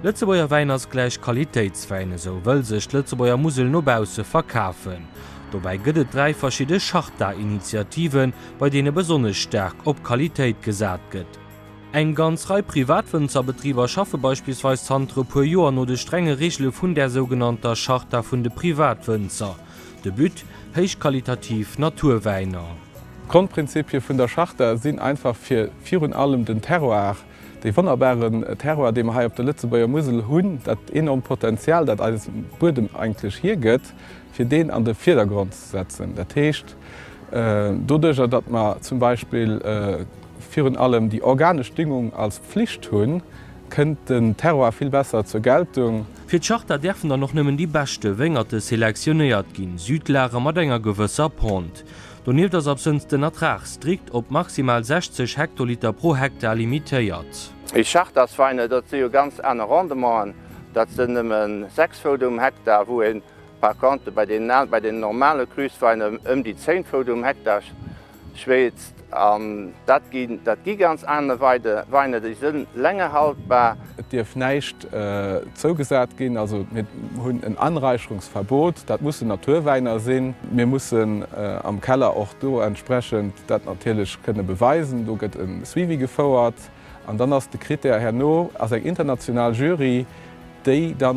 Lëtzebuerger Wäin ass gläich Qualitéitswäin, esou wëll sech d'Lëtzebuerger Musel no bausse verkafen. Dobäi gëtt et dräi verschidde Charta-Initiativen, bei deene besonnesch staark op Qualitéit gesat gëtt. Eng ganz Rei privat Wënzerbetriber schaffe beispillsweis zanter e puer Joer no de strenge Reegele vun där sougenannter Charta vun de Privatwënzer. De But, héichqualitativ Naturwäiner. D'Grondprinzipie vun der Charta sinn einfach fir virun allem den Terroir, dee wonnerbaren Terroir, dee mer hei op der Lëtzebuerger Musel hunn, dat enormt Potenzial, dat eis Buedem eigentlech hiergëtt, fir deen an de Virdergrond ze setzen. Dat heescht, doduerjer datt mer zum Beispill virun allem déi organesch Düngung als Pflicht hunn, kënnt den Terroir vill besser zur Geltung. Fir d'Charta däerfen dann och nëmmen déi beschte Wéngerte selektionéiert ginn, Südlager mat enger gewësser Pente. Donieft ass absënns den Ertrag strikt op maximal 60 Hektoliter pro Hektar limitéiert. Mee Chartasweine, dat si jo ganz aner Rendementen, dat sinn nëmme 6 Fout um Hektar, wou een par contre bei deenen al, bei deenen normale Cruswäiner ëm déi 10 Fout um Hektar Schweetzt an dat ginn, dat gi ganz aner Weine, déi si länger haltbar. Et dierf näischt zougesat ginn, also mir hunn en Anräicherungsverbot. Dat mussen Naturwäiner sinn. Mir mussen am Keller och do entsprechend dat natierlech kënne beweisen. Do gëtt e Suivi gefouert an dann ass de Krittär, herno ass eng international Jury, déi da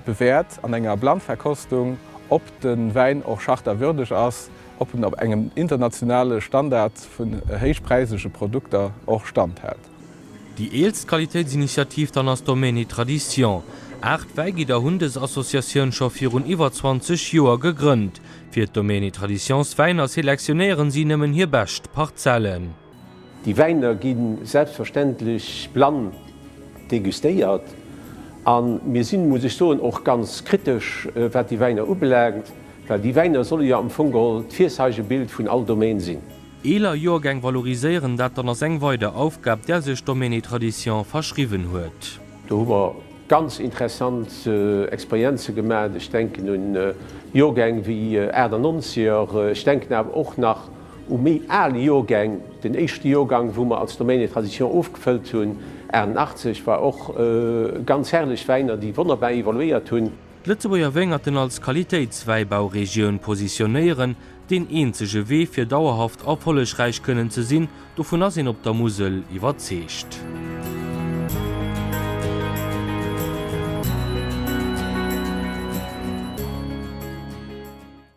bewäert an enger Blindverkostung, ob de Wäin och chartawürdeg ass. ob en op engem internationale Standard vun héichpräisege Produkter och standhält. Déi eelst Qualitéitsinitiativ dann ass Domaine Tradition. Aacht Wäigidder hunn dës Associatioun scho virun iwwer 20 Joer gegrënnt. Fir d'Domaine Traditions Wäiner selektionéieren si nëmmen hir bescht Parzellen. Déi Wäiner gi selbstverständlech blann degustéiert a mir sinn, muss ech soen, och ganz kritesch, wat déi Wäiner ubelaangt, well déi Wäiner solle jo am Fong geholl d'Virzeigebild vun all Domaine sinn. Eeler Joergäng valoriséieren, dat dann ass eng weider Aufgab, där sech Domaine et Traditions verschriwwen huet. Do hu mer ganz interessant Experienze gemat. Ech denken un Joergäng wéi Aachtanonzeger, ech denken awer och nach, u méi al Joergäng. Den éischte Joergang, wou mer als Domaine et Traditions ofgefëllt hunn, 88, war och ganz herrlech Wäiner, déi wonnerbar evoluéiert hunn. D'Lëtzebuerger Wéngerten als Qualitéitswäibauregioun positionéieren, deen eenzege Wee fir dauerhaft erfollegräich kënnen ze sinn, dovun ass een op der Musel iwwerzeegt.